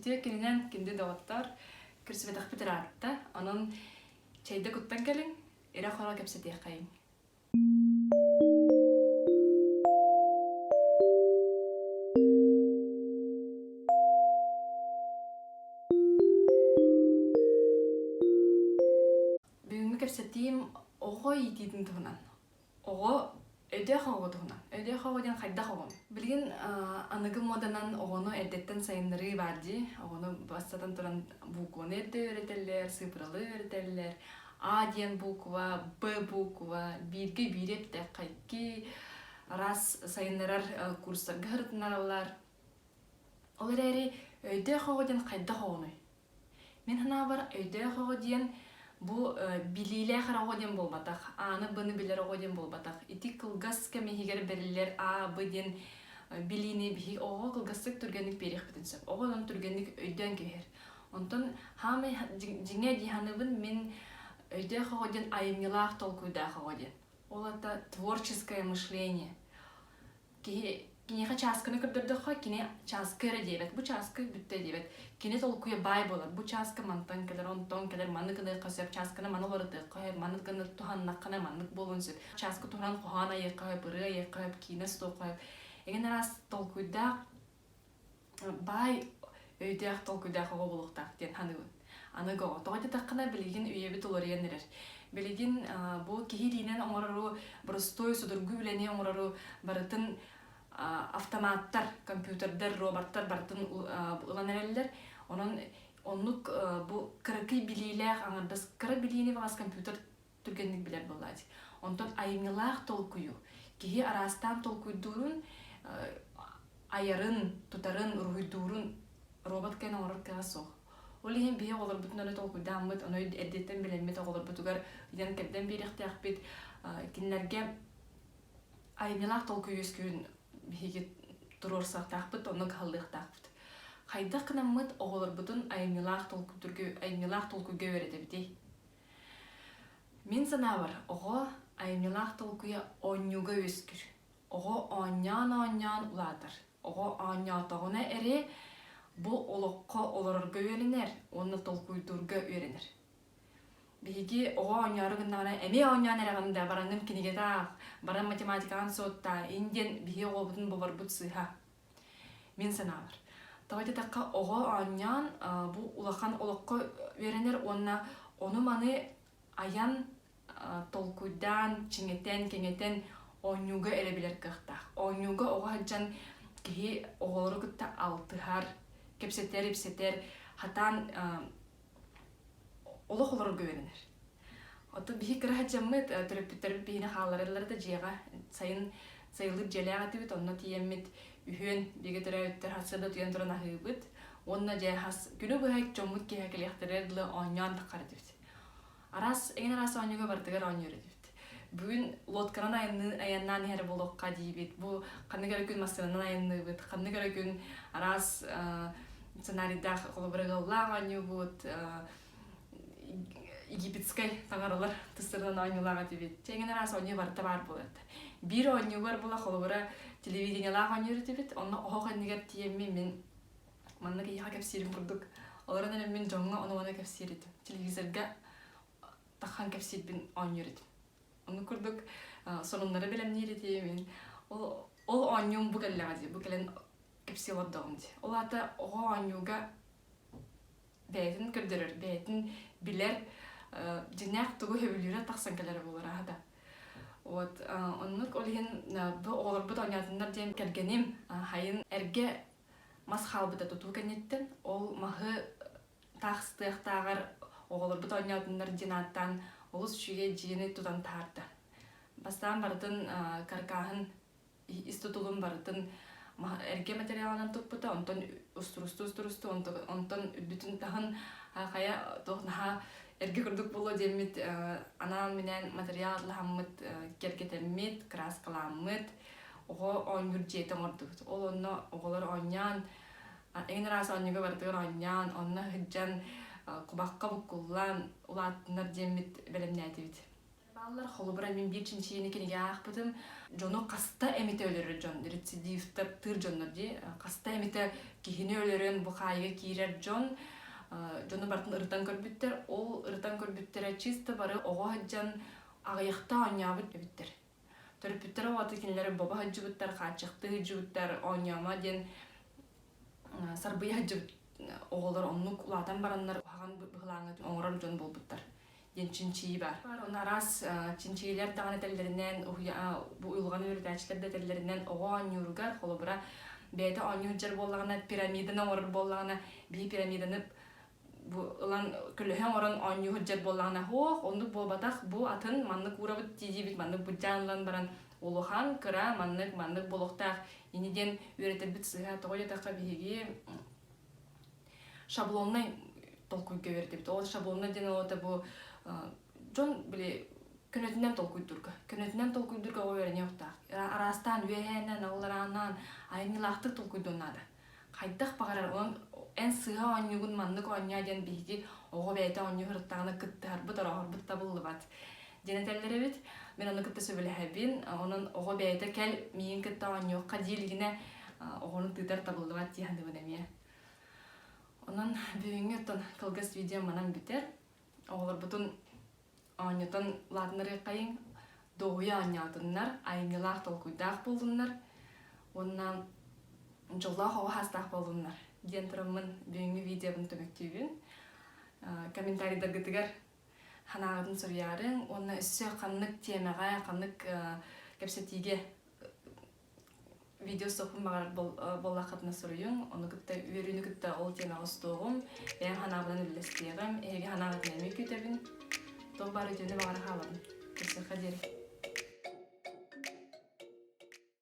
Ити кининэн кинди доҕоттор кірсибэтэхпит ыраатта, онон чайда куттан кэлин, ирэ хора кэпсэтиэххэйин. Бүгүҥҥү кэпсэтиим оҕо иитиитин туһунан. оҕо өйдөөх оҕоҕо туһунан. Өйдөөх оҕо диэн хайдах оҕоҥ? Билигин аныгы муоданан оҕону эрдэттэн сайыннарыы баар дии. Оҕону бастатан туран букваны эрдэ үөрэтэллэр, сыыпыралы үөрэтэллэр. А диэн буква, Б буква, бииргэ биири эттэххэ раз сайыннарар курстарга сырытынараллар. Ол эрээри өйдөөх оҕо диэн хайдах оҕону Мин санаабар өйдөөх оҕо диэн бу билиилээх эрэ оҕо диэн буолбатах, ааны быны билэр оҕо диэн буолбатах. Ити кылгас кэм иһигэр бэриллэр А, Б диэн билиини биһиги оҕоҕо кылгастык түргэнник биэриэхпитин сөп. Оҕо онон түргэнник өйдөөн кэбиһэр. Онтон хаамай дьиҥэ дии саныыбын мин өйдөөх оҕо диэн айымньылаах толкуйдаах оҕо диэн. Ол это творческое мышление. киһи киниэхэ чааскыны көрдөрдөххө кини чааскы эрэ диэбэт бу чааскы бүттэ диэбэт кини толкуйа баай буолар бу чааскы мантан кэлэр онтон кэлэр маннык ылыахха сөп чааскыны маны уларытыахха сөп маннык гыннар туһаннаххына маннык буолуон сөп чааскы туһанан хоһоон айыахха сөп ырыы айыахха сөп киинэ суохха сөп эгэн араас толкуйдаах баай өйдөөх толкуйдаах оҕо буолуохтаах диэн саныыбын. Аныгы оҕо тоҕо диэтэххинэ билигин үйэбит уларыйан эрэр. Билигин бу киһи илиинэн оҥорору, боростуой судургу үлэни оҥорору барытын автоматтар, компьютердар, роботтар барытын ылан эрэллэр. Онон оннук бу кыракый билиилээх, аҥардас кыра билиини баҕас компьютер түргэнник билэр буолааччы. Онтон айымньылаах толкуйу, киһи араастаан толкуйдуурун, айарын, тутарын, уруһуйдуурун робот кээн оҥорор кыаҕа суох. Ол иһин биһиги оҕолорбутун аны толкуйдааммыт, аны эрдэттэн билэммит оҕолорбутугар ыйан-кэрдэн биэриэхтээх бит. Кинилэргэ айымньылаах толкуй үөскүүрүн биһиги туруорсуохтаахпыт, онно кыһаллыахтаахпыт. Хайдах гынаммыт оҕолорбутун айымньылаах толкуй, айымньылаах толкуйга үөрэтэбитий? Мин санаабар, оҕо айымньылаах толкуйа оонньууга үөскүүр. Оҕо оонньоон-оонньоон улаатар. Оҕо оонньоотоҕуна эрэ бу олоххо олорорго үөрэнэр уонна толкуйдуурга үөрэнэр. Биһиги оҕо оонньоору гыннаҕына эмиэ оонньоон эрэҕин да бараҥҥын кинигэтэ аах, баран математикаҕын суоттаа, ин диэн биһиги оҕобутун боборбут сыыһа. Мин санаабар, давай эттэххэ, оҕо оонньоон бу улахан олоххо үөрэнэр уонна ону-маны айан толкуйдаан, чиҥэтэн, кэҥэтэн оонньууга эрэ билэр кыахтаах. Оонньууга оҕо сылдьан киһи оҕолору кытта алтыһар, кэпсэтэр, ипсэтэр, хатаан олох олорорго үөрэнэр оттон биһи кыра садьаммыт төрөппүттэрбит биһини хааллараллара да дьиэҕэ сайын сайылык дьиэлээх этибит онно тиийэммит үһүөн бигэ төрөөбүттэр сырда түйэн туран аһыыбыт уонна дьэ хас күнү быһа чоммут киэһэ кэлиэхтэрэ дылы оонньоон таххар этибит араас эйэн араас оонньууга барытыгар оонньуур этибит бүгүн лодканан айаннаан иһэр буолуохха диибит бу ханнык эрэ күн массыынанан айанныыбыт ханнык эрэ күн араас сценарийдаах холобура ыаллаах оонньуубут египетскай таҥаралар тыстарынан оонньуулаах этибит тэҥин араас оонньуу барыта баар буолат биир оонньуугар була холобура телевидениелаах оонньуур этибит онно оһох иннигэр тиэмми мин манна киһиэхэ кэпсиирим курдук олорон эрэн мин дьоҥҥо ону-маны кэпсиир этим телевизорга тахан кэпсиирбин оонньуур этим ону курдук сонуннары бэлэмниир этим мин ол ол оонньуум бу кэллэҕэ дии бу кэлэн кэпсии олордоҕум дии ол аата оҕо оонньууга бэйэтин көрдөрөр бэйэтин билэр дьиҥнээх тугу сөбүлүүрэ тахсан кэлэрэ буолара аһата вот оннук ол иһин бу оҕолорбут оонньоотуннар диэн кэргэним хайын эргэ мас хаалбыта тутуу кэнниттэн ол маһы таахстыахтааҕар оҕолорбут оонньоотуннар диэн ааттаан олус үчүгэй дьиэни тутан таарда бастаан барытын каркааһын ис тутулун барытын эргэ материалынан туппута онтон устурусту устурусту онтон үрдүтүн таһын хайа туох наһаа эргэ курдук буолуо диэммит анаан минээн материал атлаһаммыт кэргэтэммит кырааскаламмыт оҕо оонньуур дьиэтэ оҥордубут ол онно оҕолор оонньоон эҥин араас оонньууга барытыгар оонньоон онно сылдьан кубакка буккуллаан улаатыннар диэммит бэлэмнээтибит Баллар холобура мин биир чинчийэни кинигэ аахпытым дьону хаста эмите өлөрөр дьон рецидивтар тыыр дьоннор дии хаста эмите киһини өлөрөн бу хаайга киирэр дьон дьону барытын ырытан көрбүттэр ол ырытан көрбүттэрэ чисто бары оҕо сылдьан аҕыйахта оонньообут эбиттэр Төрөппүттэрэ уота кинилэри боба сылдьыбыттар, хааччахтыы сылдьыбыттар, оонньоомо диэн сарбыйа сылдьыбыт оҕолор оннук улаатан бараннар уһаҕан быһылааҥҥа оҥорор дьон буолбуттар диэн чинчийии баар. Ону араас чинчийиилэр даҕаны этэллэринэн, бу уйулҕаны үөрэтээччилэр да этэллэринэн, оҕо оонньууругар, холобура, бэйэтэ оонньуу сылдьар буоллаҕына, пирамиданы оҥорор буоллаҕына, биир пирамиданы бу ылан көлөһөн орон оонньуу сылдьар буоллаҕына оһох оннук буолбатах бу атын маннык уурабыт диибит маннык бутдьаан ылан баран улахан кыра маннык маннык буолуохтаах ини диэн үөрэтэрбит сыһа тоҕо диэтэххэ биһиги шаблоннай толкуйга үөрэтэбит ол шаблоннай диэн олота бу дьон били көнөтүнэн толкуйдурга көнөтүнэн толкуйдурга үөрэниэхтаах араастаан үөһээннэн алларааннаан айымньылаахтык толкуйдуон наада хайдах баҕарар онон эн сыыһа оонньуугун маннык оонньоо диэн биһиги оҕо бэйэтэ оонньуу сырыттаҕына кыттыһарбыт орооһорбут табыллыбат диэн этэллэр эбит мин аны кытта сөбүлэһэбин онон оҕо бэйэтэ кэл миигин кытта оонньуохха диэ илигинэ оҕону тыытар табыллыбат дии саныыбын эмиэ онон бүгүҥҥү оттон кылгас видео манан бүтэр оҕолорбутун оонньотон лаатынарыаххайыҥ дуоһуйа оонньоотуннар айымньылаах толкуйдаах буолуннар уонна дьоллоох оҕо саастаах буолуннар диэн тураммын бүгүҥҥү видеобын көмөктүүбүн комментарийдаргытыгар санааҕытын суруйаарыҥ уонна өссө ханнык тиэмэҕэ ханнык кэпсэтиигэ видеосопун баҕар буоллаххытына суруйуҥ ону кытта үөрүүнү кытта ол тиэмэҕэ устуоҕум бэйэм санаабынан үллэстиэҕим эһиги санаабытын эмиэ күүтэбин туох баар үтүөнү баҕара хаалабын көрсүөххэ диэри